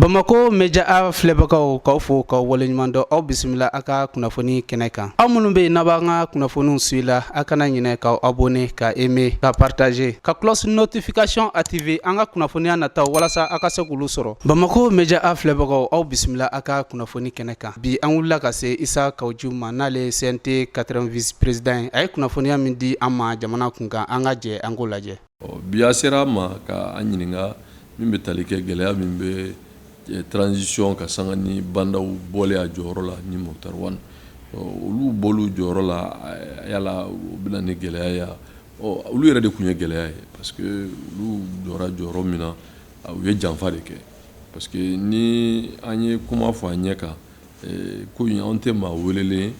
bamakɔ média filɛbagaw k'aw fo k'aw waleɲuman dɔn aw bisimila a ka kunnafoni kɛnɛ kan aw minnu bɛ yen n'a b'an ka kunnafoniw suivre la a kana ɲinɛ k'aw abonner ka aimer ka partager ka cloche notification activer an ka kunnafoniya nataw walasa a ka se k'olu sɔrɔ bamakɔ média filɛbagaw aw bisimila a ka kunnafoni kɛnɛ kan bi an wulila ka se Isa Kawu Jim ma n'ale CNT 4ème vice président ye a ye kunnafoniya min di an ma jamana kunkan an ka jɛ an k'o lajɛ Ɔ bi a sera an ma ka an ɲininka min bɛ tali kɛ gɛlɛya min bɛ transition kan sanga ni Ba Ndaw bɔlen a jɔyɔrɔ la ni Moctar Ouane olu bɔli jɔyɔrɔ la yala o bɛ na ni gɛlɛya ye olu yɛrɛ de tun ye gɛlɛya ye parce que olu jɔra jɔyɔrɔ min na u ye janfa de kɛ parce que ni an ye kuma fɔ an ɲɛ kan ko anw tɛ maa welelen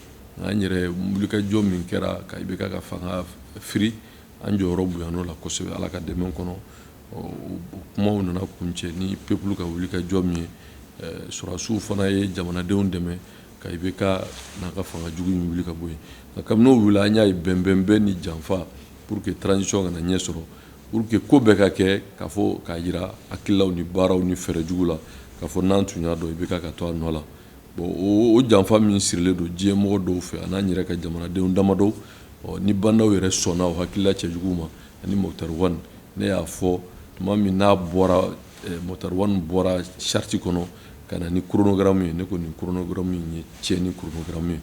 an yɛrɛ wulikajɔ min kɛra ka IBK ka fanga fi an jɔyɔrɔ bonyana o la kosɛbɛ ala ka dɛmɛ kɔnɔ kumaw nana kuncɛ ni peuple ka wulikajɔ min ye sɔrɔdasiw fana ye jamanadenw dɛmɛ ka IBK n'a ka fanga jugu in wuli ka bɔ yen nka kabini o wili an y'a ye bɛnbɛnbɛn ni janfa pour que transition kana ɲɛ sɔrɔ pour que ko bɛɛ ka kɛ k'a fɔ k'a jira hakililaw ni baaraw ni fɛɛrɛ jugu la k'a fɔ n'an tun y'a dɔn IBK ka to a nɔ la bon o janfa min sirilen don diɲɛ mɔgɔ dɔw fɛ a n'an yɛrɛ ka jamanadenw damadɔ ni Ba Ndaw yɛrɛ sɔnna o hakilila cɛjugu ma ani Moctar Ouane ne y'a fɔ tuma min n'a bɔra Moctar Ouane bɔra charte kɔnɔ ka na ni chronogramme ye ne ko nin chronogramme ye tiɲɛni chronogramme ye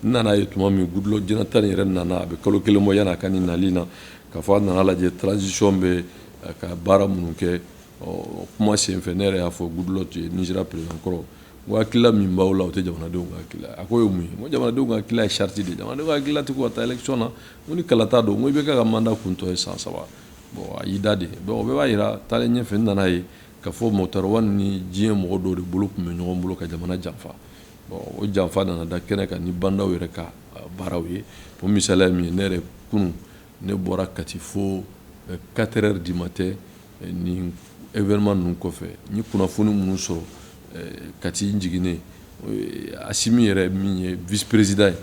n nana a ye tuma min Goodluck Jonathan yɛrɛ nana a bɛ kalo kelen bɔ yann'a ka nin nali na k'a fɔ a nana a lajɛ transition bɛ ka baara minnu kɛ ɔ kuma senfɛ ne yɛrɛ y'a fɔ Goodluck ye Nigeria président kɔrɔ Ko hakilila min b'aw la o tɛ jamanadenw ka hakilila a ko ye mun ye ko jamanadenw ka hakilila ye charte de ye jamana ka hakilila tɛ ka taa élection na ko ni kalata don ko IBK ka mandat kuntɔ ye san saba bon a y'i da de bɛɛ b'a jira taalen ɲɛfɛ n nana a ye k'a fɔ Moctar Ouane ni diɲɛ mɔgɔ dɔw de bolo tun bɛ ɲɔgɔn bolo ka jamana janfa bon o janfa nana da kɛnɛ kan ni Ba Ndaw yɛrɛ ka baaraw ye o misali min ye ne yɛrɛ kunun ne bɔra Kati fo quatre heures du matin ni événement ninnu kɔfɛ n ye kunnafoni minnu sɔrɔ Kati n jiginnen Asimi yɛrɛ min ye vice président ye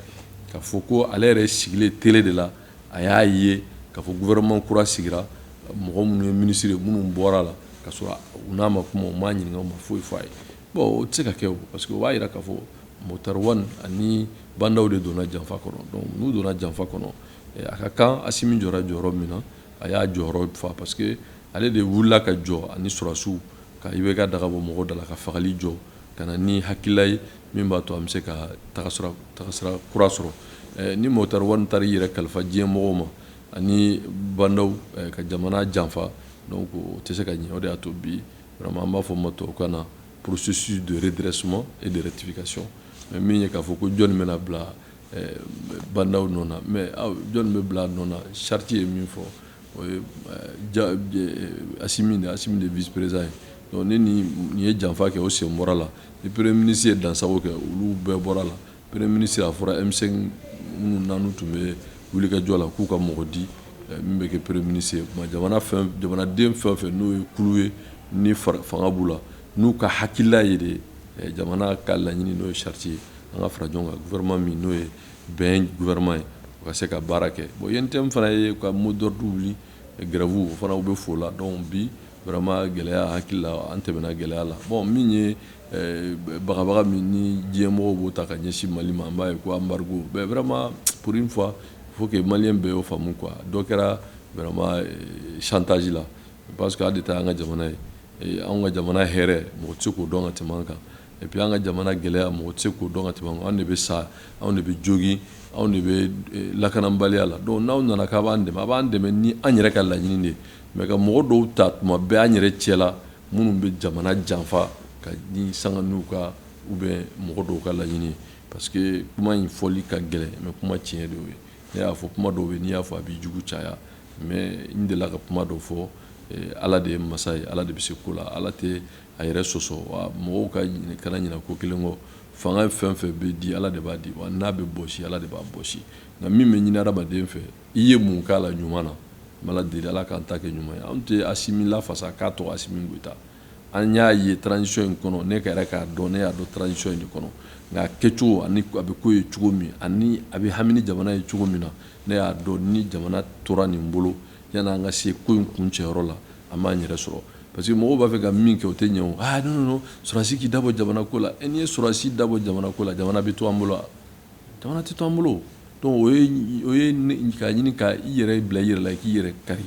k'a fɔ ko ale yɛrɛ sigilen télé de la a y'a ye k'a fɔ gouvernement kura sigira mɔgɔ minnu ye minisiri ye minnu bɔra a la ka sɔrɔ u n'a ma kuma u m'a ɲininka u ma foyi fɔ a ye bon o tɛ se ka kɛ parce que o b'a jira k'a fɔ Moctar Ouane ani Ba Ndaw de donna janfa kɔnɔ n'u donna janfa kɔnɔ a ka kan Asimi jɔ jɔyɔrɔ min na a y'a jɔyɔrɔ fa parce que ale de wulila ka jɔ ani sɔrɔdasiw ka IBK daga bɔ mɔgɔw da la ka fagali jɔ ka na ni hakilila ye min b'a to an bɛ se ka tagasira kura sɔrɔ eh, ni Moctar Ouane taara i yɛrɛ kalifa diɲɛ mɔgɔw ma ani Bah N'Daw eh, ka jamana janfa donc o tɛ se ka ɲɛ o de y'a to bi vraiment an b'a fɔ ma tubabukan na processus de redressement et de rectification mais min ye k'a fɔ ko jɔni bɛna bila Bah N'Daw nɔ na mais jɔnni bɛ bila nɔ na charte ye min fɔ o ye Asimi de Asimi de vice-président ye ni nin ye janfa kɛ o sen bɔra la ni premier ministre ye dansago kɛ olu bɛɛ bɔra la premier ministre a fɔra M5 minnu n'anu tun bɛ wulikajɔ la k'u ka mɔgɔ di min bɛ kɛ premier ministre ye jamanaden fɛn o fɛn n'o ye kulu ye ni fanga b'u la n'u ka hakilila ye de jamana ka laɲini n'o ye charte ye an ka fara ɲɔgɔn kan gouvernement min n'o ye bɛn gouvernement ye o ka se ka baara kɛ bon UNTM fana y'a ka mot d'ordre wuli grève o fana u bɛ f'o la donc bi vraiment gɛlɛya hakili la an tɛmɛna gɛlɛya la bon min ye eh, bagabaga min ni diɲɛ mɔgɔw b'o ta ka ɲɛsin Mali ma an b'a ye ko embargo mais vraiment pour une fois il faut que Malien bɛɛ y'o faamu quoi dɔ kɛra vraiment eh, chantage la parce que an de ta y'an ka jamana ye eh, anw ka jamana hɛrɛ mɔgɔ tɛ se k'o dɔn ka tɛmɛ an kan et puis an ka jamana gɛlɛya mɔgɔ tɛ se k'o dɔn ka tɛmɛ anw de bɛ sa anw de bɛ jogin anw de bɛ eh, lakananbaliya la donc n'aw nana k'a b'an dɛmɛ a b'an dɛmɛ ni an yɛrɛ ka laɲini de ye mais ka mɔgɔ dɔw ta tuma bɛɛ an yɛrɛ cɛla minnu bɛ jamana janfa ka ni sanga n'u ka ou bien mɔgɔ dɔw ka laɲini ye parce que kuma in fɔli ka gɛlɛn mais kuma tiɲɛ de ye ne y'a fɔ kuma dɔw bɛ n'i y'a fɔ a b'i jugu caya mais n delila ka kuma dɔ fɔ eh, ala de ye masa ye ala de bɛ se ko la ala tɛ a yɛrɛ sɔsɔ wa mɔgɔw ka kana ɲinɛ ko kelen kɔ fanga ye fɛn fɛn bɛ di ala de b'a di wa n'a bɛ bɔsi ala de b'a bɔsi nka min bɛ ɲini adamaden fɛ i ye mun k'a la ɲuman na an b'ala deli ala k'an ta kɛ ɲuman ye an tɛ Asimi lafasa k'a tɔgɔ Asimi Goyita an y'a ye transition in kɔnɔ ne ka yɛrɛ k'a dɔn ne y'a dɔn transition in de kɔnɔ nka kɛcogo ani a bɛ ko ye cogo min ani a bɛ hami ni jamana ye cogo min na ne y'a dɔn ni jamana tora nin bolo yan an ka se ko in kuncɛyɔrɔ la an b'an yɛrɛ sɔrɔ Parce que mɔgɔw b'a fɛ ka min kɛ o tɛ ɲɛ o ah non non non sɔrɔdasi k'i da bɔ jamana ko la e n'i ye sɔrɔdasi da bɔ jamana ko la jamana bɛ to an bolo wa jamana tɛ to an bolo donc o ye o ye ka ɲini ka i yɛrɛ bila i yɛrɛ la i k'i yɛrɛ kari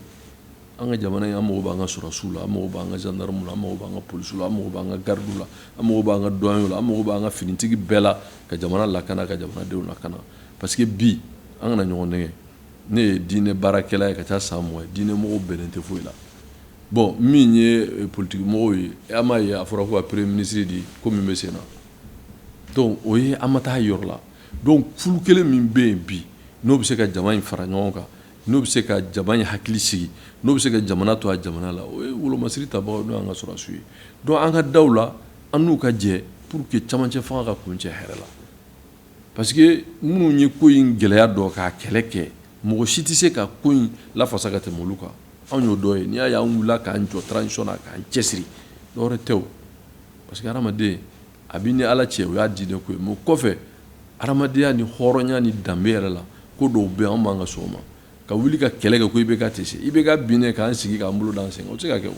an ka jamana in an mago b'an ka sɔrɔdasiw la an mago b'an ka gendarmew la an mago b'an ka polisiw la an mago b'an ka gardiw la an mago b'an ka douaniers la an mago b'an ka finitigi bɛɛ la ka jamana lakana ka jamanadenw lakana parce que bi an kana ɲɔgɔn nɛgɛn ne ye diinɛ baarakɛla ye ka taa san mugan diinɛ mɔgɔw bɛnnen tɛ foyi la bon min ye eh, politiki mɔgɔw ye an m'a ye a fɔra ko ka premier ministre di ko min bɛ sen na donc o ye an ma taa yɔrɔ la donc kulu kelen min bɛ yen bi n'o bɛ se ka jama in fara ɲɔgɔn kan n'o bɛ se ka jama in hakili sigi n'o bɛ se ka jamana to a jamana la o ye wolomasiri tabagaw n'o y'an ka sɔrɔdasiw ye donc an ka da u la an n'u ka jɛ pour que camancɛ fanga ka kuncɛ hɛrɛ la Parce que minnu ye ko in gɛlɛya dɔn k'a kɛlɛ kɛ mɔgɔ si tɛ se ka ko in lafasa ka tɛmɛ olu kan anw y'o dɔ ye n'i y'a y'an wulila k'an jɔ transition na k'an cɛsiri dɔwɛrɛ tɛ o parce que hadamaden a b'i ni Ala cɛ o y'a diinɛ ko ye mais o kɔfɛ hadamadenya ni hɔrɔnya ni danbe yɛrɛ la ko dɔw bɛ yen anw man ka sɔn o ma ka wuli ka kɛlɛ kɛ ko IBK tɛ se IBK binnen k'an sigi k'an bolo d'an sen o tɛ se ka kɛ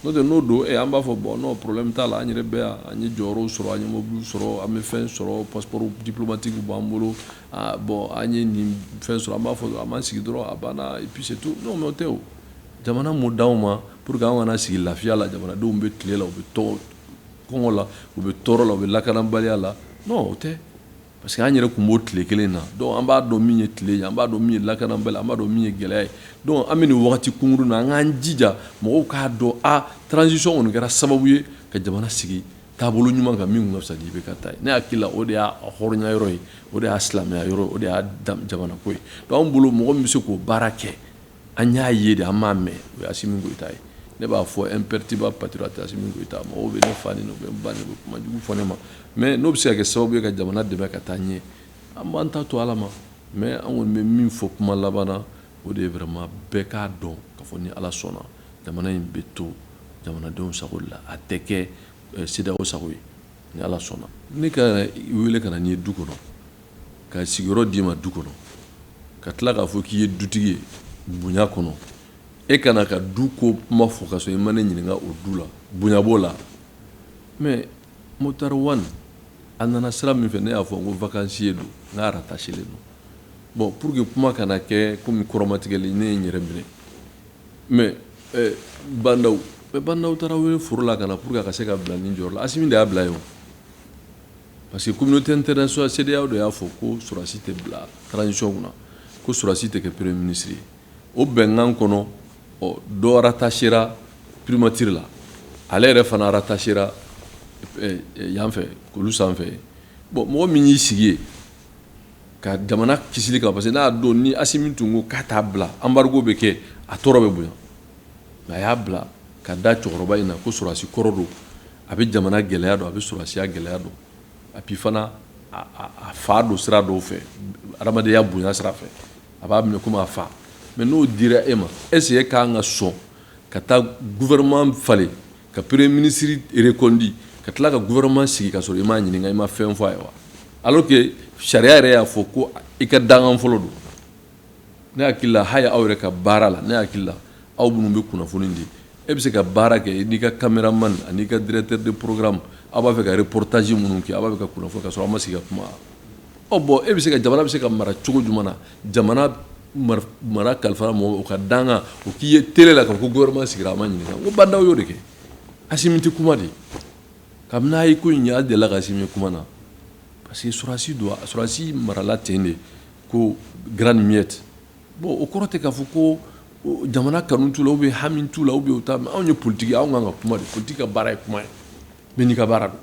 n'o tɛ n'o don e an b'a fɔ bon non problème t'a la an yɛrɛ bɛ yan an ye jɔyɔrɔw sɔrɔ an ye mobiliw sɔrɔ an bɛ fɛn sɔrɔ passeport diplomatique b'an bolo bon an ye nin fɛn sɔrɔ an b'a fɔ an b'an sigi dɔrɔn a banna puis c'est tout non o tɛ o jamana m'o d'anw ma pour que an ka na sigi lafiya la jamanadenw bɛ tile la u bɛ tɔɔrɔ kɔngɔ la u bɛ tɔɔrɔ la u bɛ lakanabaliya la non o tɛ Parce que an yɛrɛ tun b'o tile kelen na donc an b'a dɔn min ye tile ye an b'a dɔn min ye lakanabaliya an b'a dɔn min ye gɛlɛya ye donc an bɛ nin waati kunkurun na an k'an jija mɔgɔw k'a dɔn a transition kɔni kɛra sababu ye ka jamana sigi taabolo ɲuman kan min ka fisa ni IBK ta ye ne hakili la o de y'a hɔrɔnya yɔrɔ ye o de y'a silamɛya yɔrɔ o de y'a jamanako ye donc an bolo mɔgɔ min bɛ se k'o baara kɛ an y'a ye de an m'a mɛn o ye Assimi Goïta ye ne b'a fɔ imperturbable patriote Assimi Goïta mɔgɔw bɛ ne fa neni bɛ n ba neni bɛ kuma jugu fɔ ne ma mais n'o bɛ se ka kɛ sababu ye ka jamana dɛmɛ ka taa ɲɛ an b'an ta to ala ma mais an kɔni bɛ min fɔ kuma laban na o de ye vraiment bɛɛ k'a dɔn k'a fɔ ni ala sɔnna jamana in bɛ to jamanadenw sago la a tɛ kɛ CEDEAO sago ye ni ala sɔnna ne ka weele ka na n'i ye du kɔnɔ Ka sigiyɔrɔ d'i ma du kɔnɔ ka tila k'a fɔ k'i ye dutigi ye bonya kɔnɔ e kana n ka du ko kuma fɔ ka sɔrɔ i ma ne ɲininka o du la bonya b'o la mais Moctar Ouane a nana sira min fɛ ne y'a fɔ n ko vacancier don n k'a rattachelen don bon pour que kuma kana kɛ komi kɔrɔmatigɛli ne ye n yɛrɛ minɛ mais eh, Bah N'Daw mais Bah N'Daw taara wele foro la ka na pour que a ka se ka bila nin jɔyɔrɔ la Assimi de y'a bila yen o Parce que communauté internationale CEDEAO de y'a fɔ ko sɔrɔdasi tɛ bila transition kunna, ko sɔrɔdasi tɛ kɛ premier ministre ye, o bɛnkan kɔnɔ, ɔ dɔ rattachera primature la, ale yɛrɛ fana rattachera yan fɛ kulu sanfɛ yen, bon mɔgɔ min y'i sigi yen ka jamana kisili kama, parce que n'a don ni Assimi tun ko k'a t'a bila embargo bɛ kɛ, a tɔɔrɔ bɛ bonya mais a y'a bila ka da cɛkɔrɔba in na ko sɔrɔdasi kɔrɔ don. a bɛ jamana gɛlɛya dɔn a bɛ sɔrɔdasiya gɛlɛya dɔn et puis fana a fa don sira dɔw fɛ adamadenya bonya sira fɛ a b'a minɛ komi a fa mais n'o dira e ma est-ce que e kan ka sɔn ka taa gouvernement falen ka premier ministre reconduit ka tila ka gouvernement sigi ka sɔrɔ i m'a ɲininka i ma fɛn fɔ a ye wa alors que sariya yɛrɛ y'a fɔ ko i ka dangan fɔlɔ don ne hakili la hali aw yɛrɛ ka baara la ne hakili la aw minnu bɛ kunnafoni di e bɛ se ka baara kɛ n'i ka cameraman an'i ka directeur de programme aw b'a fɛ ka reportage minnu kɛ aw b'a fɛ ka kunnafoni ka sɔrɔ aw ma sigi ka kuma ɔ bon e bɛ se ka jamana bɛ se ka mara cogo jumɛn na jamana mara kalifara mɔgɔ o ka dangan o k'i ye tele la k'a fɔ ko gouvernement sigira a ma ɲininka n ko bandaw y'o de kɛ asimi tɛ kuma de kabini a ye ko in ɲɛ a delila ka asimi kuma na parce que sɔrɔdasi don sɔrɔdasi marala ten de ko grande muette bon o kɔrɔ tɛ k'a fɔ ko jamana kanu t'u la ou bien hami t'u la ou bien o ta mais anw ye politique anw kan ka kuma de politique ka baara ye kuma ye mais n'i ka baara don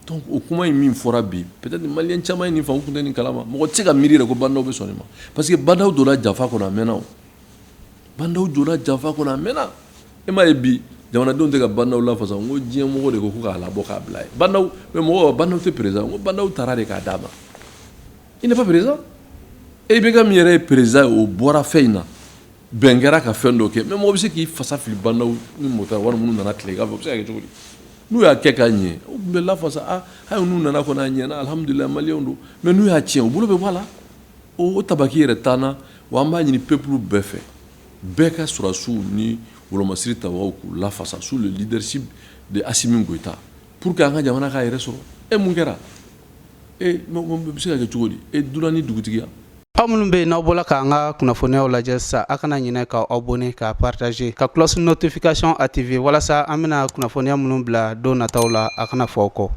donc o kuma in min fɔra bi peut-être maliyɛn caman ye nin faamu u tun tɛ nin kalama mɔgɔ tɛ se ka miiri yɛrɛ ko bandaw bɛ sɔn nin ma parce que bandaw donna janfa kɔnɔ a mɛnna bandaw donna janfa kɔnɔ a mɛnna e m'a ye bi jamanadenw tɛ ka bandaw lafasa ko diɲɛmɔgɔ de ko k'a labɔ k'a bila yen mais mɔgɔ bandaw tɛ président n ko bandaw taara de k'a d'a ma Il n'est pas président e bɛ ka min yɛrɛ ye président ye o bɔra fɛn in na bɛn kɛra ka fɛn dɔ kɛ mais mɔgɔ bɛ se k'i fasa fili bandaw ni moctar ouane minnu nana tilegan fɛ o bɛ se ka kɛ cogo di n'u y'a kɛ k'a ɲɛ u tun bɛ lafasa hali n'u nana kɔni a ɲɛna alihamudulilayi maliyɛnw don mais n'u y'a cɛn u bolo bɛ bɔ a la o tabaki yɛrɛ t'an na wa an b'a ɲini peuple bɛɛ fɛ bɛɛ ka sɔrɔdasiw ni wolomasiri ta k'u lafasa sous le leadership de assimi goïta Pour que an ka jamana k'a yɛrɛ sɔrɔ e mun kɛra e bɛ se ka kɛ cogo di e dunan ni dugutigiya aw minnu bɛ yen n'aw bɔla k'an ka kunnafoniyaw lajɛ sisan aw kana ɲinɛ ka abonner ka partager ka cloche notification activer walasa an bɛna kunnafoniya minnu bila don nataw la a kana fɔ aw kɔ